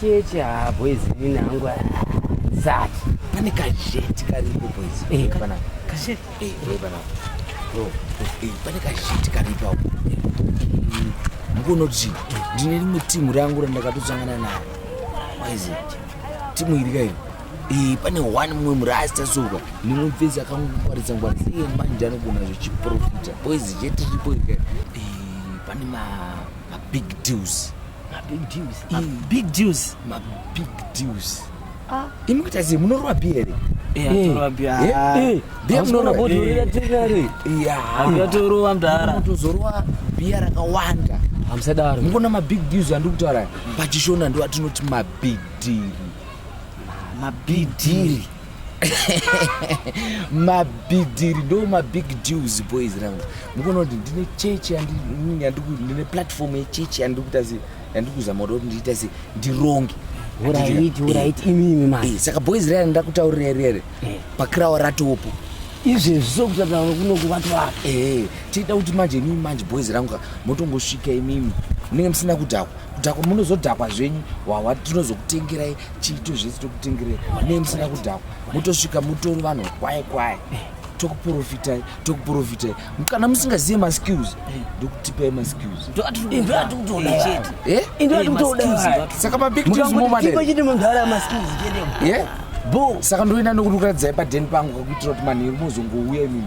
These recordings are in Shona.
Cheche haa ah, boys nini hangu zati. Pane kazheti karipo boys. Eh, pana. Kazheti. Eh, eh pana. No. Eh, pane kazheti karipo hapo. Mukonoti ndine rimwe timu rangu randakatosangana naro. Boys. Timu iri kairi. Eh, pane one mumwe murasta soka limwe pfesi akangwaridza ngwaridza iye manje anogona zvechiprofita boys jetiripo ika eh, pane mabig deals mabig deals mabig deals mabig deals ah. imi kuita sei munorova bi here biatorova mdara tozorova biya rakawanda hamusadaro mukona mabig deals andiri kutaura pachishona ndo atinoti mabidhiri mabidhiri mabhidhiri ndo mabig deals boys rangu mukuona kuti ndine chechi ndine platform yechechi yandiri kuita se yandiri kuzama kuda kuti ndiita se ndironge eh, saka boys raya ndakutaurira rere eh. pakirawa ratopo izvezvi sokutataura kunoku vatwara eh, tiita kuti manje imimi manje boys rangu motongosvika imimi munenge musina kudhakwa kudhakwa munozodhakwa zvenyu hwahwa tinozokutengerai chiito zvese tokutengerai ne musina kudhakwa motosvika mutori vanhu kwaye kwaye tokuprofitai tokuprofitai kana musingazive maskills ndokutipai maskillssaka mabigchete munhu ara maskills chete saka ndoenda nokurukaradzai padeni pangu kakuitira kuti manheru mozongouya imimi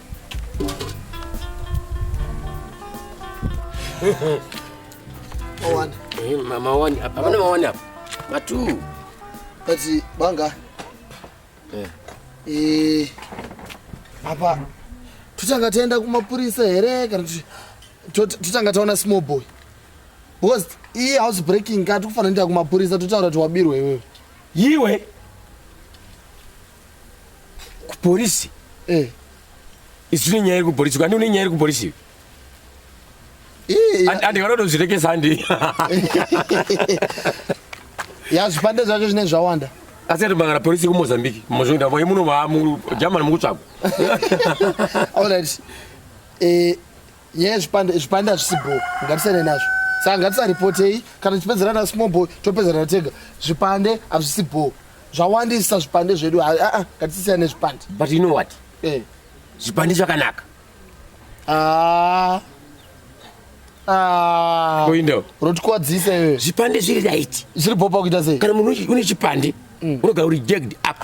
mawani eh, mawani apa pane mawani apa matu kati banga eh. Eh, apa totanga taenda kumapurisa here kana totanga taona small boy because iyi house breaking ka tikufanira nda kumapurisa totaura kuti wabirwa iwewe yiwe kupolisi eh. isu tine nyaya iri kupolisi kandi une nyaya iri kupolisi andinganotozvirekesa andi ya zvipande zvacho zvine zvawanda asi atobangana polisi kumozambique mozvoenda vaye muno vamu german mukutsvagwa allright eh, nyaya zvipande zvipande hazvisi bho ngatisane nazvo saka ngatisaripotei kana tichipedzera na small boy topedzerana tega zvipande hazvisi bho zvawandisa zvipande zvedu aa ah, ah, ngatisiyana nezvipande but you know what eh. zvipande zvakanaka ah. Ah. rotikwadzisa iwe zvipande zviri right zviri bhopa kuita sei kana munhu une chipande mm. unogara uri jagged up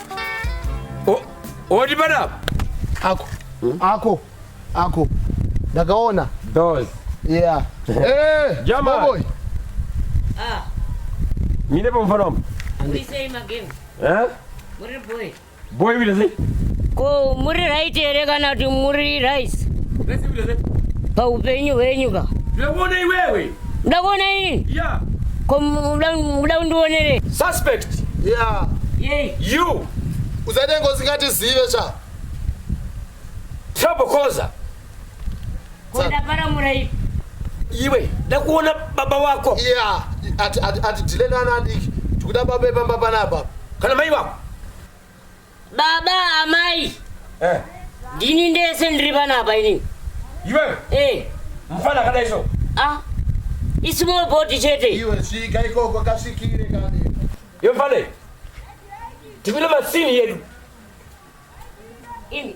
oti panapa ako hmm? ako ako ndakaona dos yeah eh jama boy ah mine pamufana wambo uisei magame eh muri boy boy vile sei ko muri right here kana kuti muri rice paupenyu hwenyu ka zvekuona iwewe Muda kuona ini? Yeah. Ko muda muda undionere? Suspect. Yeah. Yay. You. Usaite ngozi ngati zive cha. Trouble causer. Kuda para murai. Iwe, ndakuona baba wako. Yeah. Ati ati ati dilena ana adiki. Tikuda baba epamba panapa. Kana mai wako. Baba amai. Eh. Ndini ndese ndiri panapa ini. Iwe? Eh. Mfana kada iso. Ah. Isimo boti chete. Iwe svika ikoko kasvikire kani. Yo mfana. Tibile masini yedu. Ini.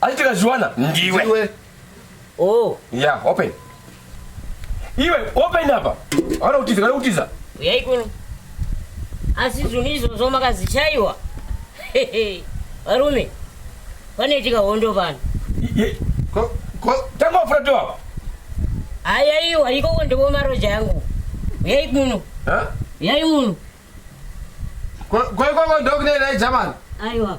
Asi tikazviwana ndiwe. Ndiwe. Oh. Yeah, open. Iwe open apa. Hauna kutiza, hauna kutiza. Uyai kuno. Asi zvinhu izvozvo makazichaiwa. Varume. Panoitika hondo pano. Ko ko tanga wafura tu apa. Ayaiwa ikoko ndipo maroja yangu. Uyai kuno. Ha? Uyai muno. Ko ko ikoko ndokunena German. Aiwa.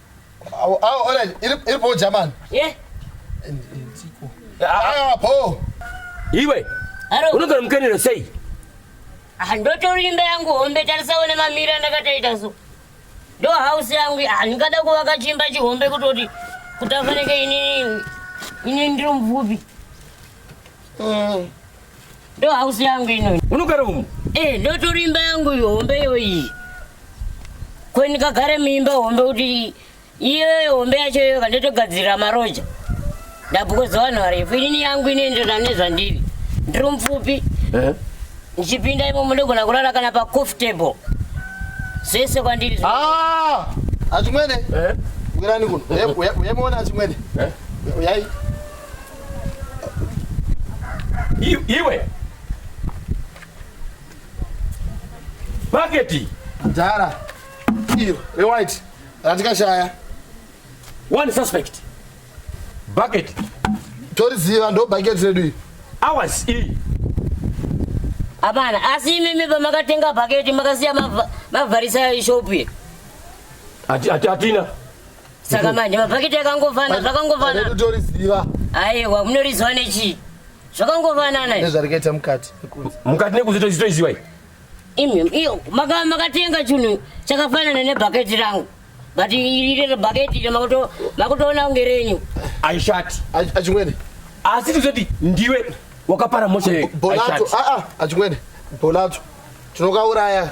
Awo awo ora iri iri bho jamani. Eh, Ah bho. Iwe, haro. unogara mukenero sei? Ah, ndotori imba yangu hombe tarisawo nemamira ndakataita so. Ndo house yangu iyi. ah ndingada kuvaka chimba chihombe kutoti kuti afanike ini ini ndiri mupfupi. Ndo house yangu ino. Unogara umu? Eh, ndo tori imba yangu hombe yoyi. Ko ndikagara muimba hombe kuti iyoyo hombe yacho iyoyo kandotogadzirira maroja. Ndabukoza vanhu varefu. Inini yangu inoenderana nezvandiri. Ndiri mupfupi. Eh. Ndichipinda imomo ndogona kurara kana pa coffee table. Zvese kwandiri. Ah! Achimwene. Eh. Wirani kuno. Yemona achimwene. Eh. Uyai. iwe paketi dhara iyo rewhite ratikashaya one suspect bucket toriziva ndo bucket redu iyi hours iyi hapana asi imimi pamakatenga bucket makasiya mavharisa ishopu ye hatina saka manje mabhaketi akangofanana zvakangofanana utoriziva aiwa munoriziva nechii zvakangofanana nezvari kuita mukati nekunze mukati nekunze toziva imi iyo makatenga chinhu chakafanana nebhaketi rangu but iriro bhaketi iro makutoona kunge renyu aishati achimwene asi tizoti ndiwe wakapara mosha yeyo bolato achimwene bolato tinokauraya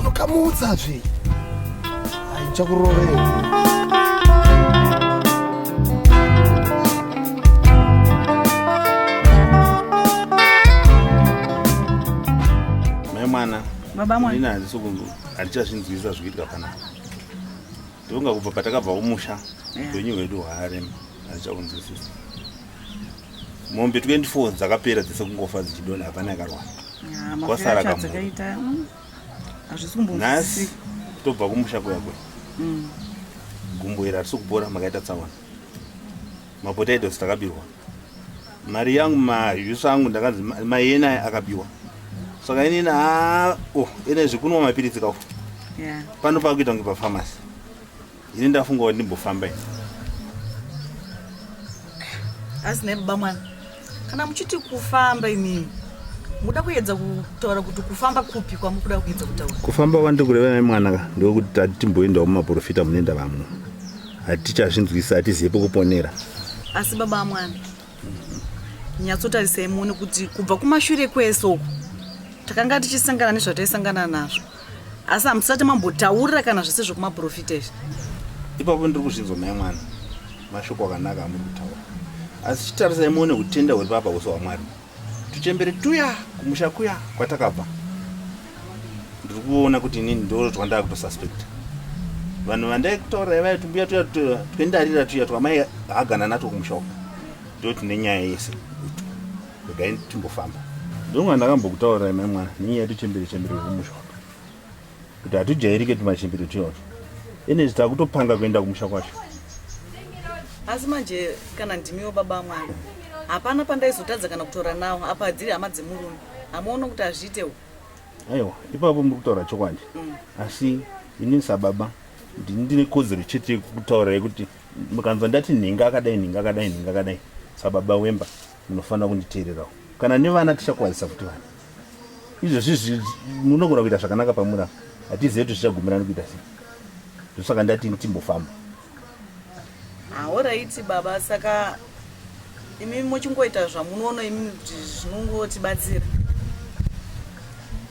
unokamutsa zve aichakurovera mai mwana baba mwana ini handisi kundu handichazvinzwisisa zvikuitika panapa ndonga kubva patakabva kumusha upenyu hwedu hwaarema handichakunzwisisa mombe 24 dzakapera dzese kungofa dzichidona hapana yakarwara kwasara kamunhasi mm, tobva kumusha kuya kuya mm. gumbo iri harisi kupora makaita tsaona mapotatoes takabirwa mari yangu majusi angu ndakanzi mayena aya akabiwa saka inini haa o oh, ene zvekunwa mapiritsi kafu pano pakuita kunge pafamasi Ini ndafunga kuti ndimbofamba ini. Asi ne baba mwana. Kana muchiti kufamba imimi. Muda kuedza kutaura kuti kufamba kupi kwamukuda kuedza kutaura. Kufamba wandi kureva ne mwana ka ndokuti tati timboenda kuma profita munenda vamwe. Hatichazvinzwisa hatizive pekuponera. Asi baba mwana. nyatsotarisai muone kuti kubva kumashure kwese uku takanga tichisangana nezvataisangana nazvo asi hamusati mambotaurira kana zvese zvekumaprofita izvi ipapo ndiri kuzvinzwa mai mwana mashoko akanaka amuri kutaura asi chitarisai muone kutenda huri papa uso hwamwari tuchembere tuya kumusha kuya kwatakabva ndiri kuona kuti inini ndoo twandava kutosuspect vanhu vandaikutaurai vaya tumbuya tuya twendarira tuya twamai hagana natwo kumusha uku ndo tune nyaya yese regai timbofamba ndonga ndakambokutaurai mai mwana nenyaya tuchembere chembere kumusha uku kuti hatujairike tumachembere tuyaoto ene zvita kutopanga kuenda kumusha kwacho asi manje kana ndimiwo baba mwana hapana pandaizotadza kana kutora nawo apa hadziri hama dzemurume hamuone kuti hazviitewo aiwa ipapo muri kutaura chokwadi mm. asi ini sababa ndini ndine kodzero chete yekutaura yekuti mukanzwa ndati nhinga akadai nhinga akadai nhinga akadai sababa wemba munofanira kunditeererawo kana nevana tichakwazisa kuti vana izvozvi munogona kuita zvakanaka pamura hatizive kuti zvichagumirani kuita sei zvosaka ndati timbofamba Ahoraiti ah, baba saka imi muchingoita zvamunoona imi kuti zvinongotibatsira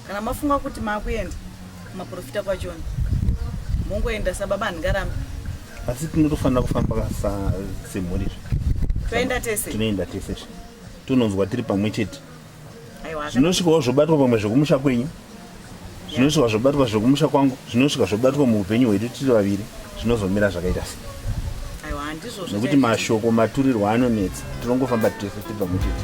kana mafunga kuti makuenda maprofita kwachona mongoenda sababa handingarambi asi tinotofanira kufamba semhuri zve toenda tese tinoenda tese zve tononzwa tiri pamwe chete zvinosvikawo zvobatwa pamwe zvekumusha kwenyu zvinosvika zvobatwa zvekumusha kwangu zvinosvika zvobatwa muupenyu hwedu tiri vaviri zvinozomira zvakaita se nekuti mashoko maturirwo anonetsa tinongofamba tese tibva muchete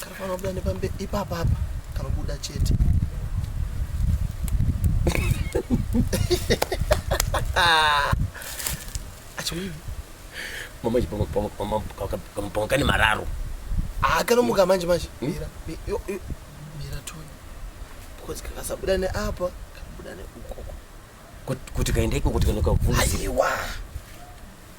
kanofanira kubuda nepambe ipapa apa kanobuda chete achiwii mama chipamwe kane mararo akanomuka manje manje hmm? mira mira toni because kakasabuda neapa kanobuda neukoko kuti kaenda ikoko tikanoka kuvunziwa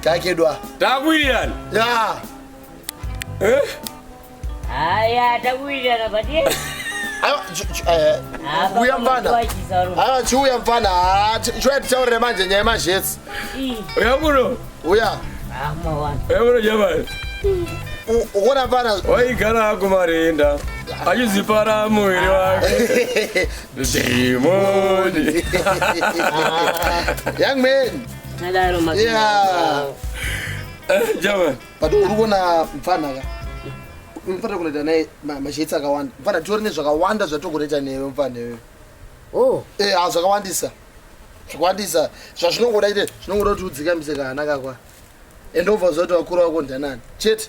Takedwa. Takuwirirana. Ya. Eh? Aya takuwirirana but yes. uya eh, mfana aa chiuya mfana ah, chiuya titaurire manje nyaya yemazhesi uya kuno uya uya kuno jamani ukuona mfana waigara hako marinda achizipara muviri wake dhimoni young man Nadaro mazwi. Yeah. Eh, Java. But uri kuona mfana ka. Mfana kunoita naye ma- mashades akawanda. Mfana tiori nezvakawanda zvatogoreta newe mfana iwe. Oh. Eh, ah, zvakawandisa. Zvakawandisa. Zvazvinongoda ite zvinongoda kuti udzikamise kana kakwa. And over zoti wakura wako ndanani. Chete.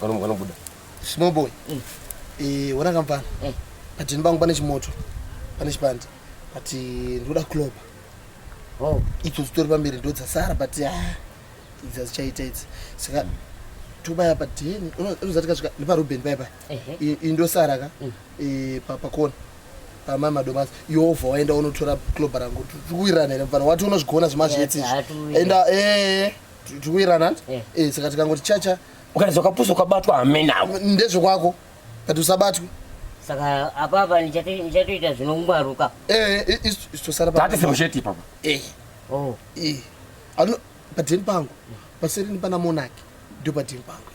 kanobuda small boy mm. eh, ona kampani mm. but ini bangu pane chimoto pane chipande but eh, ndikuda kuloba oh. idzo zitori pamberi ndo dzasara but ah, idzi azichaita idzi saka tobaya padeni unozati kasvika neparuben paya paya iyi ndosara ka mm. eh, pakona pamai madomas yovha waenda unotora cloba rangu tikuwirirana here mfana wati unozvigona zvemazvetse enda ee tikuirana eh. eh, saka tikangoti chacha ukanzi wakapusa ukabatwa hamenawo ndezvekwako but usabatwe saka apapa ndichatoita zvinongwaruka eh, istosaratatisemusheti ipapa oh. padeni pangu paserini pana monaki ndio padeni pangu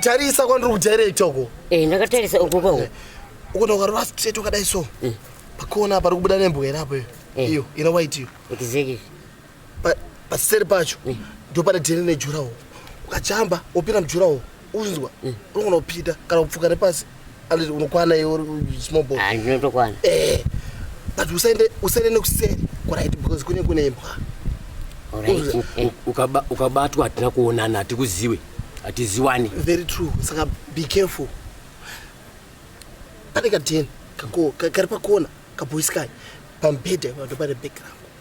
tarisa kwandiri kujaira itoko eh, ndakatarisa uko kwawo eh, ukuti ukarova straight wakadai so eh. pakona pari kubuda nembwa irapo iyo iyo ina white iyo paseri pacho mm. ndopane dheni nejurawo ukachamba opinda mujurawo unzwa mm. unogona kupinda kana kupfuka nepasi unokwana iwesmobotokwana ah, eh, but usaende usaende nekuseri kurit because kune kune imbwa eh. ukabatwa hatina kuonana hatikuziwe hatiziwani very true saka be careful pane kadheni kari pakona kaboyiskai pambhedha ipato pane background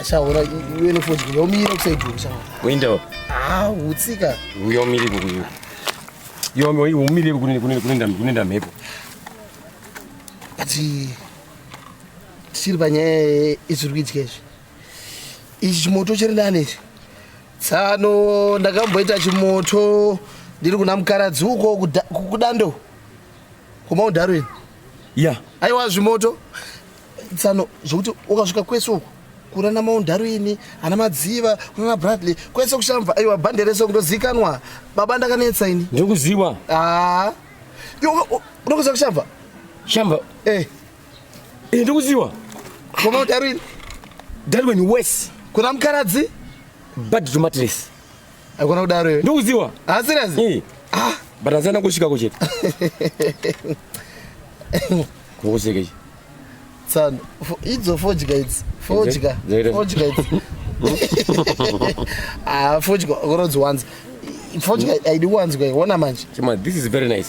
Ashaura iwe nefodya yomira kusaidwa ashaura. Kuenda wapi? Ah, utsika. Uyomire kukuyo. Yomi uyu umire kunenda kunenda kunenda mhepo. Ati tisiri panyaya izviri kuitika izvi. Ichi chimoto chiri nani ichi? Tsano ndakamboita chimoto ndiri kuna mukaradzi uko kuda- kudando. Kuma udarwini. ya aiwa zvimoto tsano zvokuti ukasvika kwese uku kura namaundharu ini ana madziva kuna nabradley kwese kushamva aiwa bhande rese kundozikanwa baba ndakanetsa ini ndikuziwa aa unokuziva kushamva shamva eh. eh ndikuziwa kwamaundharu ini that when worse kuna mukaradzi bad to matres Haikona kudaro iwe. Ndokuziwa. Ah serious? Eh. Ah, but azana kusvika ko chete. Kukuseke. Tsano. Idzo fodya idzi. Fodya. Fodya idzi. Ah, fodya. Unodziwanza. Fodya mm. aidi kuwanzwa. Wona manje. Chima, this is very nice.